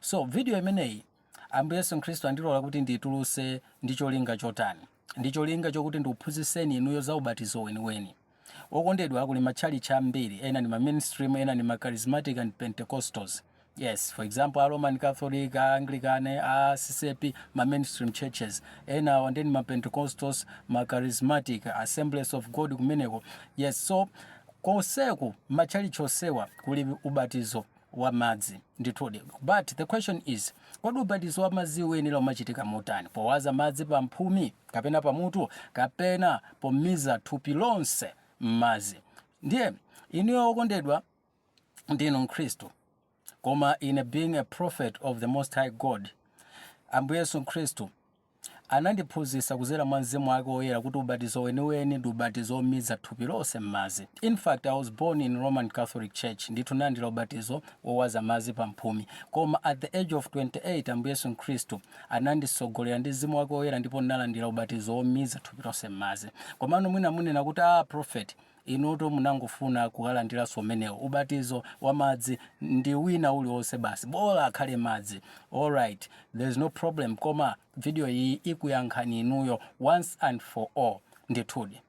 So video imeneyi Ambuye Yesu Khristu andilola kuti ndituluse ndi cholinga chotani? Ndi cholinga chokuti ndikuphunzitseni inuyo za ubatizo weniweni. Okondedwa, kuli matchalitchi ambiri, ena ndi ma mainstream, ena ndi ma charismatic and Pentecostals. Yes, for example, a Roman Catholic, a Anglican, a CCAP, ma mainstream churches. Ena awa ndi ma Pentecostals, ma charismatic, Assemblies of God kumeneko. Yes, so konseku matchalitchi onsewa kuli ubatizo wa madzi ndithudi but the question is kodi ubatizo wa madzi uyenera umachitika motani powaza madzi pa mphumi kapena pa mutu kapena pomiza thupi lonse m'madzi ndiye inuyo okondedwa ndinu mkhristu koma ine being a prophet of the most high god ambuye yesu mkhristu Anandiphunzitsa kudzera mwa Mzimu wake Woyera kuti ubatizo weniweni ndi ubatizo womiza thupi lonse mmadzi. In fact, I was born in Roman Catholic Church, ndithu nalandira ubatizo wowaza madzi pa mphumi. Koma at the age of 28 Ambuye Yesu Khristu ananditsogolera ndi Mzimu wake Woyera ndipo nalandira ubatizo womiza thupi lonse mmadzi. Komano mwina munena kuti, aah prophet, Inutu munangofuna kukalandiranso umenewo ubatizo wa madzi ndi wina uliwonse basi bola akhale madzi alright there's no problem koma video iyi ikuyankhani inuyo once and for all ndithudi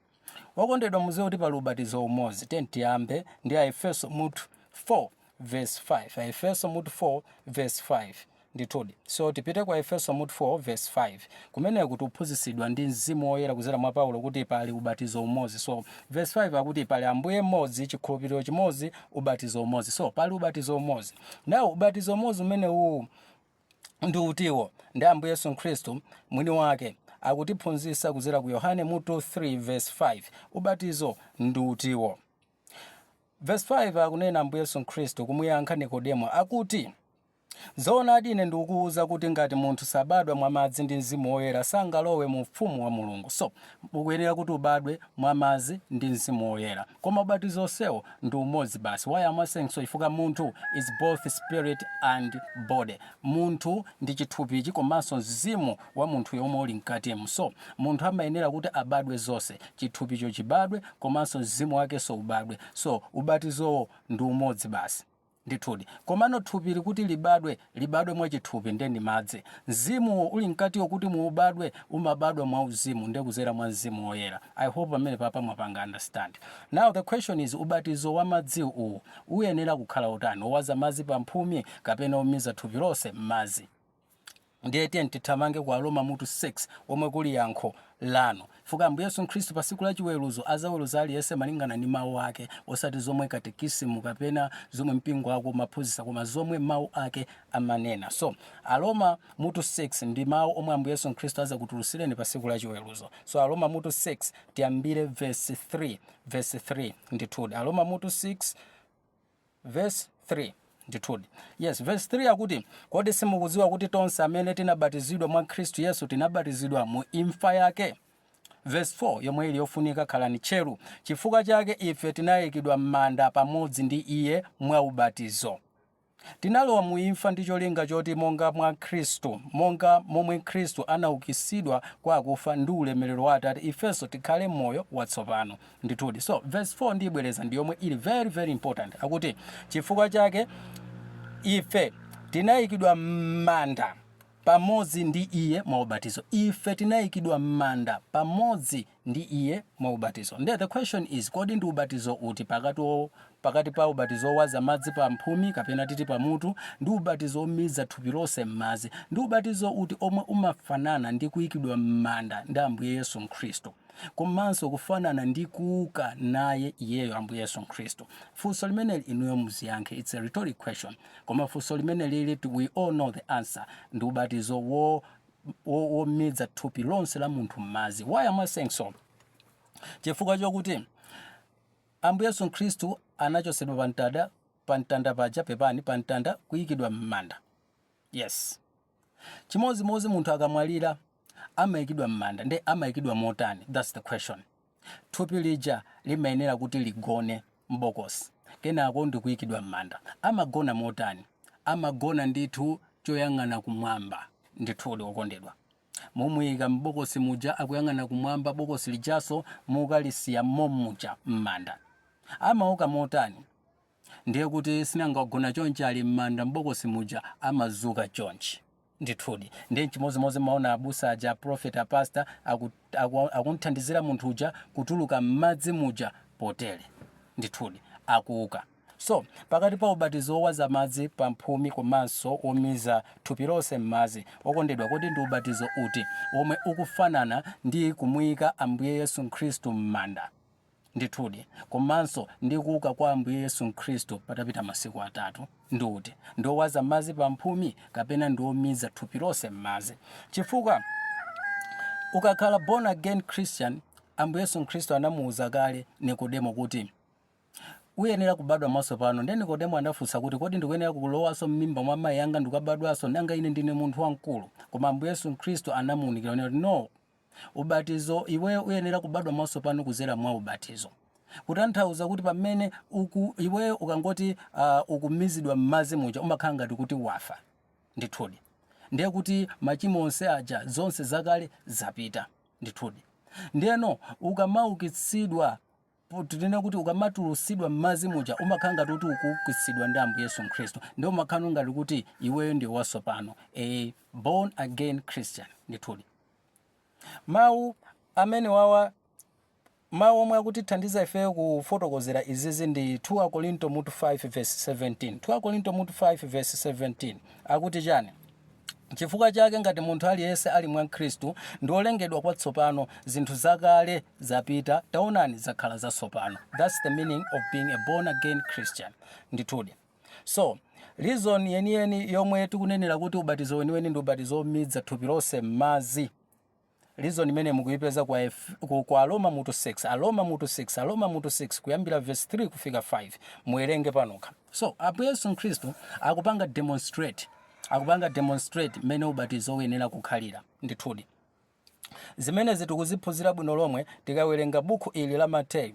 okondedwa muziwe kuti pali ubatizo umozi tiyambe ndi Aefeso mutu 4 vesi 5. Aefeso mutu 4 vesi 5 Ndithudi, so, tipite ku Aefeso mutu 4 vesi 5. Kumeneko tikuphunzitsidwa ndi Mzimu Woyera kudzera mwa Paulo kuti pali ubatizo umodzi. So, vesi 5 akuti pali Ambuye mmodzi, chikhulupiriro chimodzi, ubatizo umodzi. So, pali ubatizo umodzi. Now, ubatizo umodzi umenewu ndi utiwo? Ndi Ambuye Yesu Khristu mwini wake akutiphunzitsa kudzera ku Yohane mutu 3 vesi 5. Ubatizo ndi utiwo? Verse 5 akunena Ambuye Yesu Khristu kumuyankha Nikodemo akuti, Zoonadi ine ndikukuwuza kuti ngati munthu sabadwa mwa madzi ndi mzimu woyera sangalowe mu ufumu wa Mulungu. So, ukuyenera kuti ubadwe mwa madzi ndi mzimu woyera. Koma ubatizo onsewo ndi umodzi basi. Why am I saying so? Chifukwa munthu is both spirit and body. Munthu ndi chithupichi komanso mzimu wa munthuyo omwe uli mkatimu. So, munthu amayenera kuti abadwe zonse. Chithupicho chibadwe komanso mzimu wakenso ubadwe. So, ubatizowo ndi umodzi basi. Ndithudi. Komano thupili kuti libadwe, libadwe mwa chithupi nde ndi madzi. Mzimuwo uli mkatiwo kuti muubadwe, umabadwa mwa uzimu nde kuzera mwa Mzimu Woyera. I hope pamenepapa mwapanga understand. Now the question is ubatizo wa madzi uwu uyenera kukhala otani? Owaza madzi pa mphumi kapena omiza thupi lonse mmadzi? Ndiye tiyeni tithamange ku Aroma mutu 6, womwe kuli yankho lanu. Chifukwa Ambuye Yesu Khristu pa tsiku la chiweruzo adzaweruza aliyense malingana ndi Mawu Ake, osati zomwe katekisimu kapena zomwe mpingo wako umaphunzitsa, koma zomwe Mawu Ake amanena. So, Aroma mutu 6 ndi Mawu omwe Ambuye Yesu Khristu adzakutulutsireni pa tsiku la chiweruzo. So, Aroma mutu 6, tiyambire vesi 3, vesi 3, ndithudi. Aroma mutu 6, Verse 3 Ndithudi. Yes, verse 3 akuti, Kodi simukudziwa kuti tonse amene tinabatizidwa mwa Khristu Yesu tinabatizidwa mu imfa yake? Verse 4 yomwe ili yofunika khalani tcheru. Chifukwa chake ife tinayikidwa m'manda pamodzi ndi iye mwa ubatizo. Tinalowa mu imfa ndi cholinga choti monga mwa Khristu, monga momwe Khristu anaukitsidwa kwa akufa ndi ulemerero wa Atate, ifenso tikhale moyo watsopano. ndithudi so verse 4 ndiyibwereza ndi yomwe ili very very important akuti chifukwa chake ife tinayikidwa m'manda pamodzi ndi iye mwa ubatizo ife tinayikidwa m'manda pamodzi ndi iye mwa ubatizo nde the question is kodi ndi ubatizo uti pakati o- pakati pa ubatizo owaza madzi pa mphumi kapena titi pamutu ndi ubatizo omiza thupi lonse m'madzi ndi ubatizo uti omwe umafanana ndi kuyikidwa m'manda ndi ambuye yesu mkhristu komanso kufanana ndi kuuka naye iyeyo Ambuye Yesu Khristu. Funso limeneli inuyo muziyankhe. It's a rhetoric question. Koma funso limenelili ti- we all know the answer. Ndi ubatizo wo wo- womiza thupi lonse la munthu m'madzi. Why am I saying so? Chifukwa chokuti Ambuye Yesu Khristu anachotsedwa pa mtanda pa mtanda paja pepani pa mtanda kuyikidwa m'manda. Yes. chimodzimodzi munthu akamwalira amayikidwa m'manda nde amayikidwa motani thats the question thupi lija limayenera kuti ligone m'bokosi kenako ndikuyikidwa m'manda amagona motani amagona ndithu choyang'ana kumwamba ndithudi okondedwa mumuyika m'bokosi muja akuyang'ana kumwamba bokosi lijaso mukalisiya mommuja m'manda amauka motani Ndiye kuti sinanga wagona chonchi ali mmanda mbokosi muja amazuka chonchi. Ndithudi. Ndiye nchimozimozi mmaona abusa aja a prophet a pastor aku aku akumthandizira munthu uja kutuluka mmadzi muja potere. Ndithudi. Akuuka. So, pakati pa ubatizo wowaza madzi pa mphumi komanso womiza thupi lonse mmadzi, okondedwa kodi ndi ubatizo uti womwe ukufanana ndi kumuika Ambuye Yesu Khristu mmanda? Ndithudi. Komanso ndi kuuka kwa Ambuye Yesu Mkhristu patapita masiku atatu. Ndi uti? Ndi owaza madzi pa mphumi kapena ndi omiza thupi lonse m'madzi? Chifukwa ukakhala born again Christian, Ambuye Yesu Mkhristu anamuuza kale Nikodemo kuti uyenera kubadwa mwatsopano. Ndiye Nikodemo anafunsa kuti kodi ndikuyenera kulowanso m'mimba mwa mayi anga ndikubadwanso? Nanga ine ndine munthu wamkulu? Koma Ambuye Yesu Mkhristu anamuunikira onena kuti no. Ubatizo, iweyo uyenera kubadwa mwatsopano kudzera mwa ubatizo. Kutanthauza kuti pamene uku, iweyo ukangoti uh, ukumizidwa m'madzi muja umakhala ngati kuti wafa ndithudi ndiye kuti machimo onse aja zonse zakale zapita ndithudi ndiyeno ukamaukitsidwa Tinene kuti ukamatulutsidwa m'madzi muja umakhala ngati kuti ukuukitsidwa ndi Ambuye Yesu Khristu. Ndiye umakhala ngati kuti iweyo ndiwe watsopano. A born again Christian. Ndithudi. Mawu amenewawa mawu omwe akutithandiza ifeyo kufotokozera izizi ndi 2 Akorinto mutu 5 verse 17. 2 Akorinto mutu 5 verse 17 akuti chani? Chifukwa chake, ngati munthu aliyense ali mwa Khristu, ndi wolengedwa kwatsopano, zinthu zakale zapita, taonani, zakhala zatsopano. That's the meaning of being a born again Christian. Ndithudi. So, reason yeniyeni yomwe tikunenera kuti ubatizo weniweni ndi ubatizo womidza thupi lonse m'madzi. Reason imeneyi mukuyipeza kwa Aroma mutu 6, Aroma mutu 6, Aroma mutu 6 kuyambira verse 3 kufika 5. Muwerenge panokha. So, Ambuye Yesu Khristu akupanga demonstrate, akupanga demonstrate mmene ubatizo uyenera kukhalira. Ndithudi. Zimenezi tikuziphunzira bwino lomwe tikawerenga bukhu ili la Mateyu.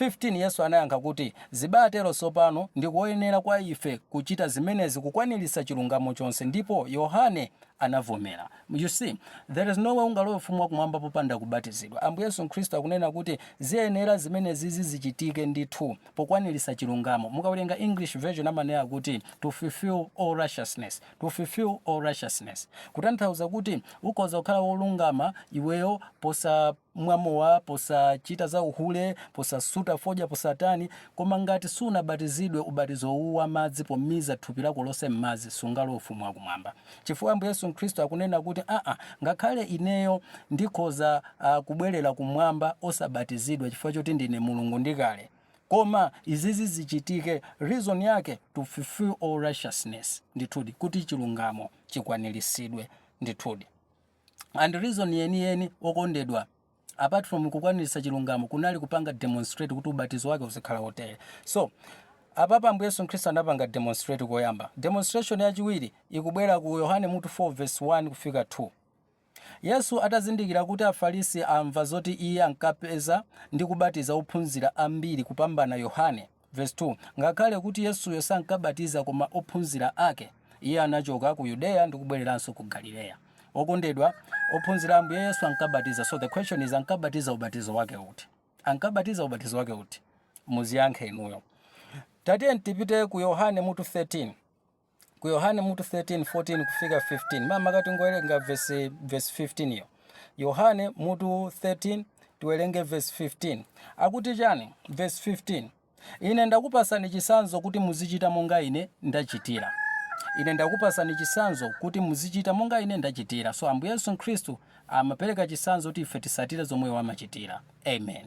15 Yesu anayankha kuti, Zibatero tsopano ndi koyenera kwa ife kuchita zimenezi kukwaniritsa chilungamo chonse. Ndipo Yohane anavomera. You see, there is no way ungalowe ufumu wa kumwamba popanda kubatizidwa. Ambuye Yesu Khristu akunena kuti ziyenera zimenezizi zichitike ndithu pokwaniritsa chilungamo. Mukawerenga English version amanena kuti to fulfill all righteousness. To fulfill all righteousness. Kutanthauza kuti ukhoza kukhala wolungama iweyo posa. mwa mowa, posachita za uhule, posasuta fodya, posatani. Koma ngati sunabatizidwe ubatizo uwu wa madzi pomiza thupi lako lonse m'madzi, sungalowe Ufumu wa Kumwamba. Chifukwa Ambuye Yesu Khristu akunena kuti, Aa, ngakhale ineyo ndikhoza uh, kubwerera kumwamba osabatizidwa chifukwa choti ndine Mulungu ndi kale. Koma izizi zichitike, reason yake to fulfill all righteousness, ndithudi kuti chilungamo chikwaniritsidwe ndithudi. and reason yeniyeni okondedwa apart from kukwanirisa chilungamo kunali kupanga demonstrate kuti ubatizo wake uzikhala wotere so apapa ambuye yesu khristu anapanga demonstrate koyamba demonstration yachiwiri ikubwera ku yohane mutu 4 verse 1 kufika 2 yesu atazindikira kuti afarisi amva zoti iye ankapeza ndi kubatiza ophunzira ambiri kupambana yohane Verse 2 Ngakhale kuti Yesuyo sankabatiza koma ophunzira ake, iye anachoka ku Yudeya ndi kubwereranso ku Galileya. Okondedwa, ophunzira a Ambuye Yesu ankabatiza. So the question is, ankabatiza ubatizo wake uti? Ankabatiza ubatizo wake uti? Muziyankhe inuyo. Tatiyeni tipite ku Yohane mutu 13. ku Yohane mutu 13, 14 kufika 15. Mama katingowerengera verse verse 15 yo. Yohane mutu 13 tiwerenge verse 15. Akuti chani? Verse 15. Ine ndakupasani chisanzo kuti muzichita monga ine ndachitira. Ine ndakupasani chisanzo kuti muzichita monga ine ndachitira. So Ambuye Yesu Khristu amapereka chisanzo kuti ife tisatire zomwe amachitira. Amen.